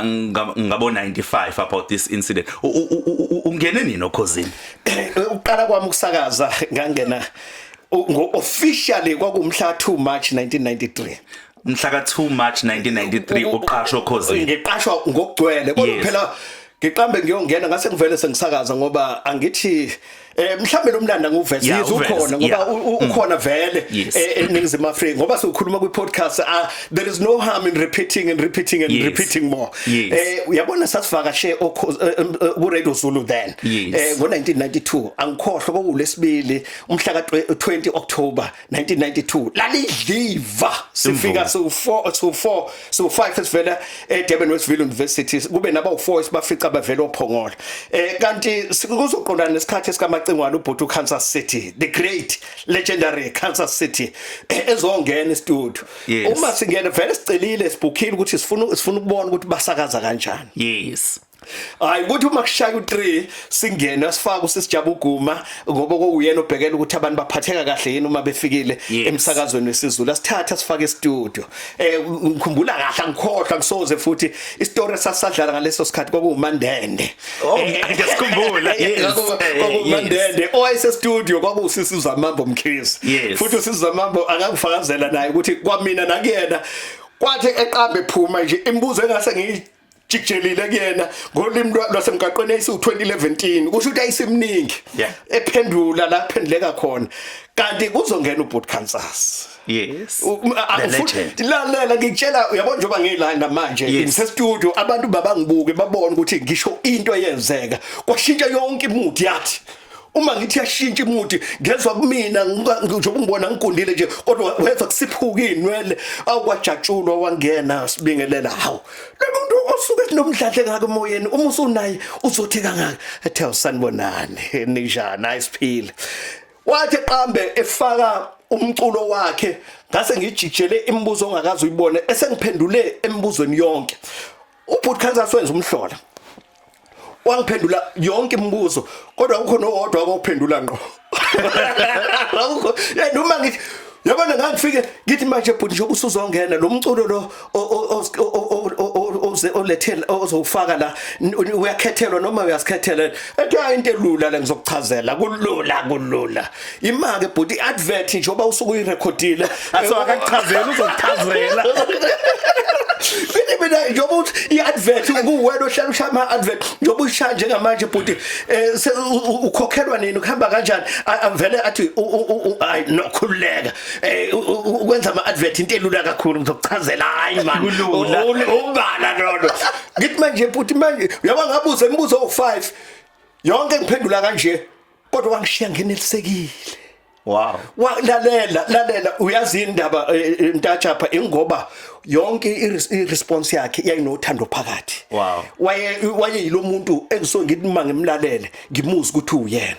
ngabo 95 about this incident ungene nini okhozini eh, uqala kwami ukusakaza ngangena ngo officially kwakumhla 2 March 1993 mhla ka 2 March 1993 uqashwa okhozini ngiqashwa ngokugcwele kodwa phela ngiqambe ngiyongena ngase ngivele sengisakaza ngoba angithi yes. Eh mhlambe lo mlanda nguvese Yeah, yize uvese, ukhona ngoba yeah. u- u- ukhona vele Yes. eh, eningizimu Afrika ngoba sikhuluma kwi podcast ah, there is no harm in repeating and repeating and Yes. repeating more. Yes. Eh uyabona sasivakashe okho- eh, em, eh, ku Radio Zulu then. Yes. Eh ngo 1992 angikhohlwa kwakulesibili umhla ka 20 October 1992 lalidliva sifika so 4 so 4 so 5 esivela eDurban Westville University kube naba u4 esibafica bavela ophongola eh kanti kuzoqondana nesikhathi esikamacingwana ubhuti uKansas City the great legendary Kansas City eh, ezongena estudio uma singena vele sicelile sibukhile ukuthi sifuna sifuna ukubona ukuthi basakaza kanjani yes hayi ukuthi uma kushaya u3 singena sifaka usisijaba uguma ngoba kokuyena obhekela ukuthi abantu baphatheka kahle yini uma befikile emsakazweni wesizulu asithatha sifake istudio eh ngikhumbula kahle angikhohlwa ngisoze futhi istory sasadlala ngaleso sikhathi kwakuwumandende oh, eh, ngiyasikhumbula eh, eh, kwakuwumandende oyise studio kwakuwusisiza mambo mkhizi futhi usisiza mambo akakufakazela naye ukuthi kwamina nakuyena kwathi eqambe phuma nje imibuzo engase ngiyi jijelile kuyena ngolimi lwasemgaqweni eyisu 2011 kusho ukuthi ayisimningi ephendula la phenduleka khona kanti kuzongena ubhuti Kansas yes lalela ngitshela uyabona njengoba ngila namanje ngise studio abantu babangibuke babone ukuthi ngisho into eyenzeka kwashintsha yonke imudi yathi uma ngithi yashintsha imuthi ngezwa kumina nje ubungibona ngigundile nje kodwa weva kusiphuka inwele awukwajatshulwa wangena sibingelela hawu lomuntu osuke nomdladle ngake emoyeni uma usunaye uzothi kangaka ethe usanibonani ninjani ayisiphile wathi qambe efaka umculo wakhe ngase ngijijele imibuzo ongakazi uyibone esengiphendule emibuzweni yonke Ubhuti Kansas wenza umhlola wangiphendula yonke imibuzo kodwa kukhona owodwa akuphendula ngqo akukho eh, noma ngithi yabona ngangifike ngithi manje bhuti nje usuzongena lo mculo lo oze olethela ozowufaka la uyakhethelwa noma uyasikhethela ethi hayi into elula la ngizokuchazela kulula kulula imake bhuti i-advert njengoba usuke uyirekhodile aso akakuchazela uzokuchazela Bini mina njengoba uthi i-advert kuwena ohlala ushaya ama-advert njengoba uyishaya njengamanje bhuti um ukhokhelwa nini kuhamba kanjani A- avele athi u- u- u- u- hayi nokhululeka um ukwenza ama-advert into elula kakhulu ngizokuchazela hhayi mani Kulula. U- u- umbala lolo ngithi manje bhuti manje uyaba ngabuza imibuzo owu-five yonke ngiphendula kanje kodwa wangishiya ngenelisekile wow lalela lalela uyazi indaba eh, eh, ntatshapha ingoba yonke iresponse yakhe yayinothando phakathi wow waye waye yilomuntu engiso ngidima ngimlalele ngimuzi ukuthi uyena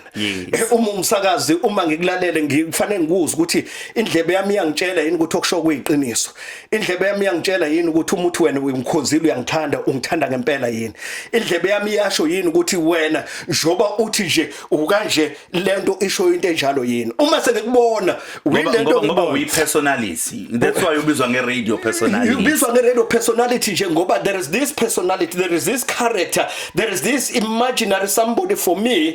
eh, uma umsakazi uma ngikulalele ngifanele ngikuze ukuthi indlebe yami iyangitshela yini ukuthi okusho kuyiqiniso indlebe yami iyangitshela yini ukuthi uma uthi wena ungikhonzile uyangithanda ungithanda ngempela yini indlebe yami iyasho yini ukuthi wena njoba uthi nje ukanje lento isho into enjalo yini uma senikubona winento ngoba uyi personality that's why ubizwa nge radio personality ubizwa nge radio personality nje ngoba there is this personality there is this character there is this imaginary somebody for me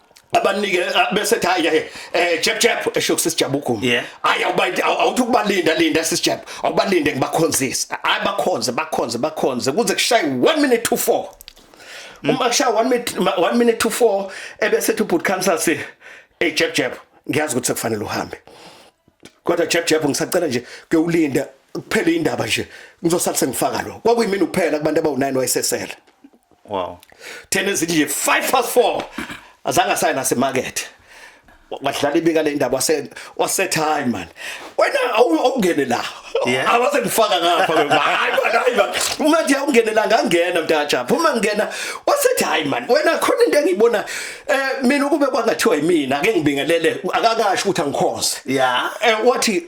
abanike eh, bese ethi hayi eh, eh jeb jeb esho kusisijabugumu hayi awubayinda awuthi ukubalinda linda sisijeb awubalinde ngibakhonzise hayi bakhonze bakhonze bakhonze kuze kushaye 1 minute to 4 mm. uma kushaye 1 minute 1 minute to 4 ebese ethi ubhuti khamsa si hey jeb jeb ngiyazi ukuthi sekufanele uhambe kodwa jeb jeb ngisacela nje ke ulinda kuphele indaba nje ngizosala sengifaka lo kwakuyimini kuphela kubantu abawu9 wayesesela wow thena ezithi nje 5 past 4 azange asaye nasemarket wadlala ibika le ndaba wase wasethi hayi man wena awungene la awase ngifaka ngapha hayi man hayi man uma nje awungene la ngangena mntaja phuma ngena wasethi hayi man wena khona into engiyibona eh mina ukube kwangathiwa yimina ake ngibingelele akakasho ukuthi angikhonze yeah eh, wathi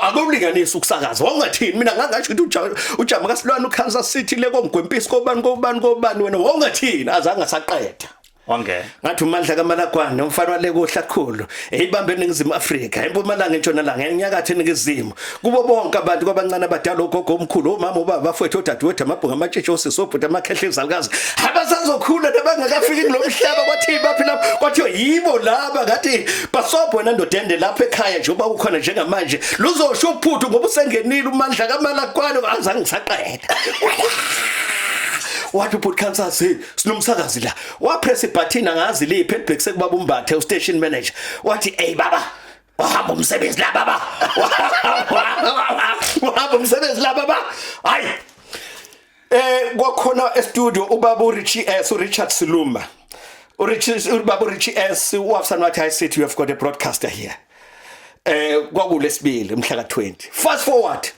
akulinganisi ukusakaza wawungathini mina ngangasho ukuthi ujama kasilwane ukansas city le komgwempisi kobani kobani kobani wena wawungathini azange asaqeda wangena ngathi umandla kamalagwane umfana wale kohlakhulu eyibambe eningizimu Afrika empumalanga entshonalanga enyakathe eningizimu kubo bonke abantu kwabancane abadala ogogo omkhulu omama ubaba bafowethu odadewethu amabhunga amatshitshi osisi obhuti amakhehle izalukazi abasazokhula nabangakafiki kulo mhlaba kwathi baphi lapho kwathiwa yibo laba ngathi basobho wena ndoda ende lapho ekhaya nje uba ukhona njengamanje luzosho uphuthu ngoba usengenile umandla kamalakwano azange ngisaqeda wathi ubhuti Kansas hey sinomsakazi la wapress ibutton angazi liphi elibhekise kubaba umbathe u station manager wathi hey baba wahamba umsebenzi la baba wahamba umsebenzi la baba hayi Eh kwakhona e studio ubaba uRichie S uRichard Siluma. uRichie ubaba uRichie S uwafsana wathi I said you have got a broadcaster here. Eh kwakulesibili umhla ka 20. Fast forward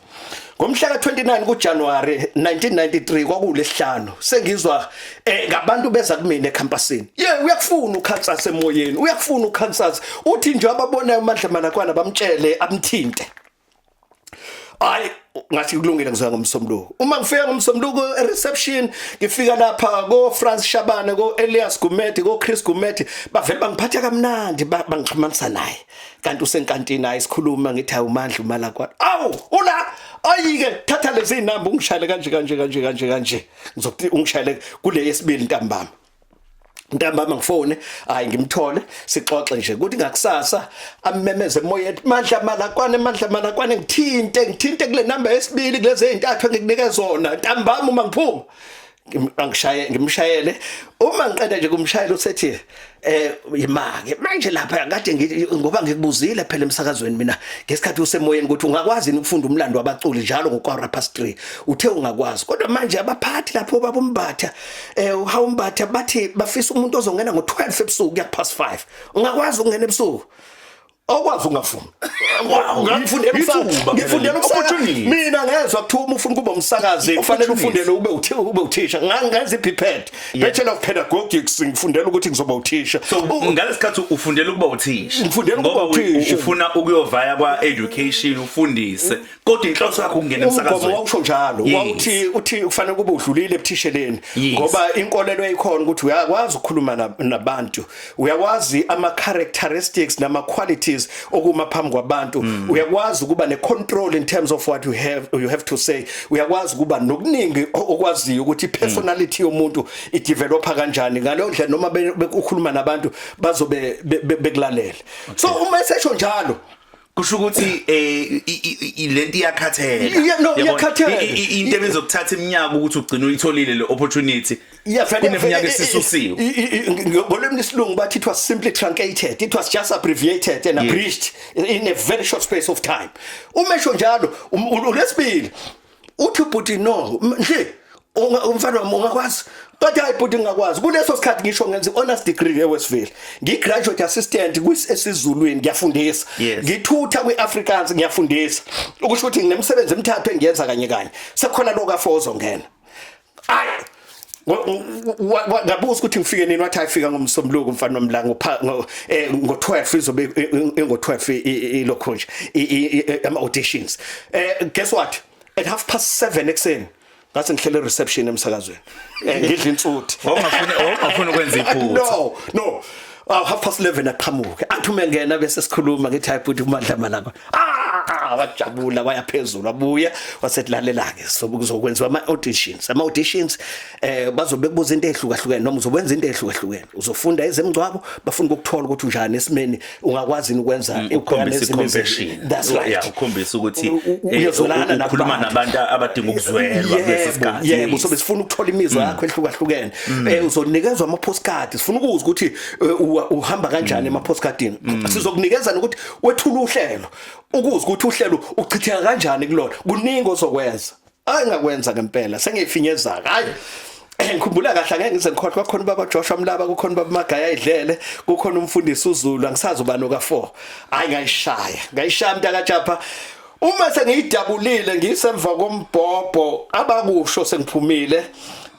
ngomhla ka 29 kuJanuary 1993 kwakulesihlanu sengizwa eh ngabantu beza kumina ecampusini ye uyakufuna ukhansasa emoyeni uyakufuna ukhansasa uthi nje ababonayo uMandla Malakwana bamtshele amthinte hayi ngathi kulungile ngizoya ngomsombuluko uma ngifika ngomsombuluko e-reception ngifika lapha ko-france shabane ko-elias gumeti ko-chris gumeti bavele bangiphatha kamnandi bangixhumanisa naye kanti usenkantini hayi sikhuluma ngithi hayi umandla umala kwani awu ula ayike thatha lezi zinamba ungishayele kanje kanje kanje kanje kanje ngizokuthi ungishayele kule yesibili ntambama ntambama ngifone hayi ngimthole sixoxe nje kuthi ngakusasa amemeze emoyeni mandla malakwane mandla malakwane ngithinte ngithinte kule number yesibili kulezi ezintathu engikunike zona ntambama uma ngiphuma angishaye ngimshayele uma ngiqeda nje kumshayela usethi eh imake manje lapha kade ngoba ngikubuzile phela emsakazweni mina ngesikhathi usemoyeni ukuthi ungakwazi ukufunda umlando wabaculi njalo ngokwa past 3 uthe ungakwazi kodwa manje abaphathi lapho babombatha eh uhawumbatha bathi bafisa umuntu ozongena ngo12 ebusuku kuya past 5 ungakwazi ukungena ebusuku awukwazi ungafuni ngifundela umsakazi ngifundela umsakazi mina ngezwa kuthiwa uma ufuna ukuba umsakazi kufanele ufundele ube uthi ube uthisha ngangenza iphiphethi bachelor of pedagogics ngifundela ukuthi ngizoba uthisha ngalesikhathi ufundela ukuba uthisha ngifundela ukuba uthisha ufuna ukuyovaya kwa education ufundise kodwa inhloso yakho ukungena emsakazweni umgomo wawusho njalo wawuthi uthi kufanele kube udlulile ebuthisheleni ngoba inkolelo eyikhona ukuthi uyakwazi ukukhuluma nabantu uyakwazi ama characteristics nama qualities okuma phambi kwabantu mm. uyakwazi ukuba ne control in terms of what you have you have to say uyakwazi ukuba nokuningi okwaziyo ukuthi personality mm. yomuntu i developer kanjani ngaleyo ndlela noma bekukhuluma nabantu bazobe bekulalela so uma esesho njalo kusho ukuthi eh lento iyakhathela no iyakhathela into ebezokuthatha iminyaka ukuthi ugcine uyitholile le opportunity kuneminyaka esisusiwe ngolimi lesilungu bathi it was simply truncated it was just abbreviated and abridged in a very short space of time umesho njalo um, ulesibili uthi ubhuti no nje umfana wami ungakwazi kodwa hayi bhuti ngingakwazi kuleso sikhathi ngisho ngenza i-honors degree ewestville ngi-graduate assistant esizulwini ngiyafundisa ngithutha kwi-africans ngiyafundisa ukusho ukuthi nginemsebenzi emithathu engiyenza kanye kanye sekukhona lokafoza ongena ngabuza ukuthi ngifike nini wathi ayifika ngomsombuluko mfana nomlanga ngo eh, 12 izobe ngo 12 ilokho nje ama auditions eh guess what at half past 7 ekseni ngathi ngihlele reception emsakazweni eh, ngidla insuthi wawungafuni wawungafuni ukwenza iphutha no no Aw half past 11 aqhamuke. Athi uma engena bese sikhuluma ngithi hayi bhuti kumandla malanga. Ah wajabula waya phezulu wabuya wasetlalela ke so kuzokwenziwa ama auditions. Ama auditions eh bazobe kubuza into ehlukahlukene noma uzokwenza into ehlukahlukene. Uzofunda ezemgcwabo bafuna ukuthola ukuthi unjani esimeni ungakwazi ukwenza Mm, ukhombisa i-compassion. That's right. Yeah, ukhombisa ukuthi eh, uyezwelana ukhuluma nabantu abadinga ukuzwelwa kulesi Yebo, sikhathi. yebo Yes. sobe sifuna ukuthola imizwa yakho ehlukahlukene mm. eh uzonikezwa ama postcard sifuna ukuza ukuthi eh, uhamba kanjani mm. ema postcardini mm. sizokunikeza ukuthi wethula uhlelo ukuza ukuthi uhlelo uchitheka kanjani kulona kuningi ozokwenza angakwenza ngempela sengifinyeza hayi eh, ngikhumbula kahle angeke ngize ngikhohle kwakhona baba Joshua Mlaba kukhona baba Magaya idlele kukhona umfundisi uZulu angisazi ubani oka4 hayi ngayishaya ngayishaya mntaka Japa uma sengiyidabulile ngisemva kombhobho abakusho sengiphumile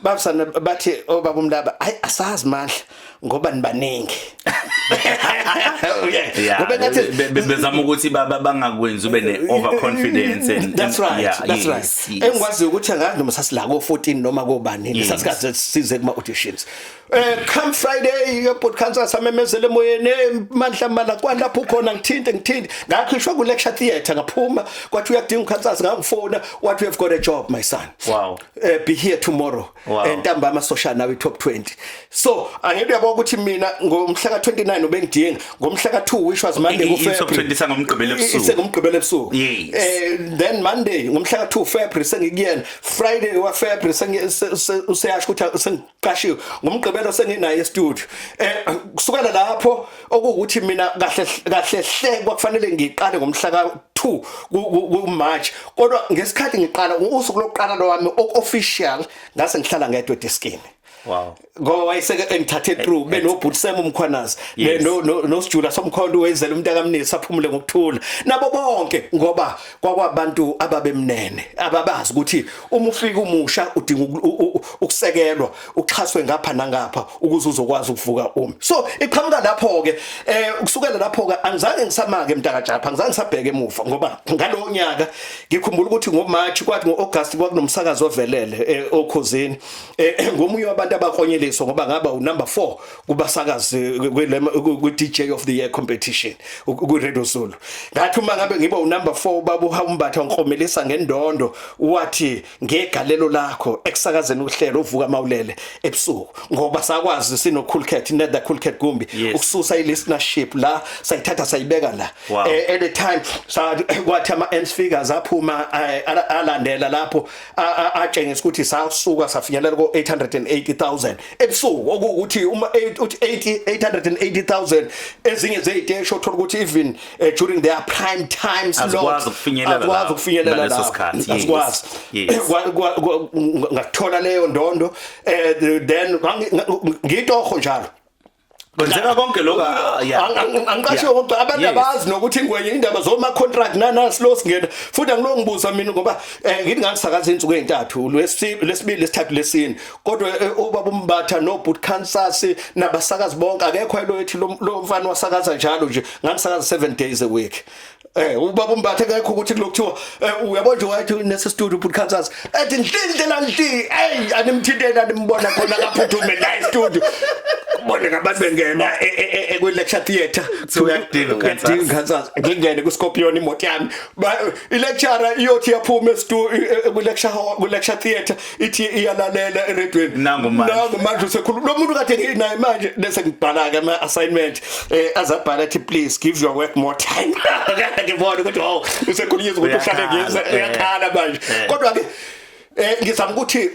babusana bathi obaba oh, umlaba hayi asazi mandla ngoba nibaningi ngoba ngathi bezama ukuthi baba bangakwenzi ube ne overconfidence and that's right yeah, that's right engikwazi ukuthi angazi noma sasila ko 14 noma kobani lesasikhathi size kuma auditions Eh come Friday your podcast asamemezele emoyeni eh, mandla mala kwalapho khona ngithinte ngithinte ngakhishwa ku lecture theatre ngaphuma kwathi uyakudinga ukhansasa ngangifona what you have got a job my son wow uh, be here tomorrow wow. Eh, ntambama uh, social nawe top 20 so angeke uyabona ukuthi mina ngomhla ka 29 ubengidinga ngomhla ka 2 which was monday ku february top 20 sangomgqibelo ebusuku sengomgqibelo ebusuku yes eh, then monday ngomhla ka 2 february sengikuyena friday wa february sengiyasho ukuthi qashiwe ngomgqibelo senginaye estudio eh kusukela lapho okuwukuthi mina kahle kahle hle kwakufanele ngiqale ngomhla ka 2 ku March kodwa ngesikhathi ngiqala usuku lokuqala lwami official ngase ngihlala ngedwa deskini Wow. Ngoba wayeseke engithathe through eh, eh, benobhuti Sam umkhwanazi no no sijula somkhondo wenzela umuntu akamnisi aphumule ngokuthula. Nabo bonke ngoba kwakwabantu ababemnene ababazi ukuthi uma ufika umusha udinga ukusekelwa uxhaswe ngapha nangapha ukuze uzokwazi ukuvuka umi so iqhamuka lapho ke eh ukusukela lapho ke angizange ngisamake mntaka Japha angizange ngisabheke emuva ngoba ngalowo nyaka ngikhumbula ukuthi ngo March kwathi ngo August kwakunomsakazo ovelele eh, okhozini eh, ngomunye wabantu abakonyeliswa ngoba ngaba u number 4 kubasakazi kwi-DJ of the year competition kwi-Radio Zulu ngathi uma ngabe ngiba unumber 4 baba uhambatha ngikhomelisa ngendondo wathi ngegalelo lakho ekusakazeni uhlelo uvuka mawulele ebusuku ngoba sakwazi sino cool cat nether cool cat kumbi ukususa i-listenership la sayithatha sayibeka la eh, at the time kwathi ama ends figures aphuma eh, alandela lapho atshengisa ukuthi sasuka safinyelela ko 880000 ebusuku okuwukuthi uma uthi 80 880000 ezinye zeziteshi othola ukuthi even uh, during their prime time slot azikwazi ukufinyelela la azikwazi ukufinyelela la leso sikhathi azikwazi ngathola leyo ndondo eh, then ngitoho njalo kwenzeka konke lokho angiqashe kodwa abantu abazi nokuthi ingwenye indaba zoma contract nana slow singena futhi angilo ngibuza mina ngoba eh, ngithi ngasakaza insuku ezintathu lwesibili lesithathu lesini kodwa eh, ubaba umbatha no boot Kansas nabasakazi bonke akekho elo ethi lo mfana wasakaza njalo nje ngisakaza 7 days a week Eh ubaba umbathe ngekho ukuthi kulokuthiwa eh, uyabo nje wathi nese studio put Kansas ethi ndlinde la ndli hey animthinteni animbona khona kaphuthume la studio ubone ngabantu bengena e, e, e, ekwi lecture theater so uyadinga Kansas udinga Kansas ngingene ku Scorpion imoto yami Ba- i lecturer iyothi yaphuma estu kwi lecture hall kwi lecture theater ithi iyalalela eredweni nangu manje nangu manje usekhuluma lo muntu kade nginaye manje bese ngibhala ke ama assignment eh azabhala thi please give your work more time kade ngibona ukuthi wow usekhuluma ukuthi uhlale ngiyeza eh. uyakhala manje eh. kodwa ke eh ngizama ukuthi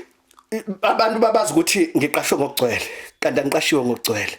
abantu babazi ukuthi ngiqashwe ngokugcwele kanti angiqashiwe ngokugcwele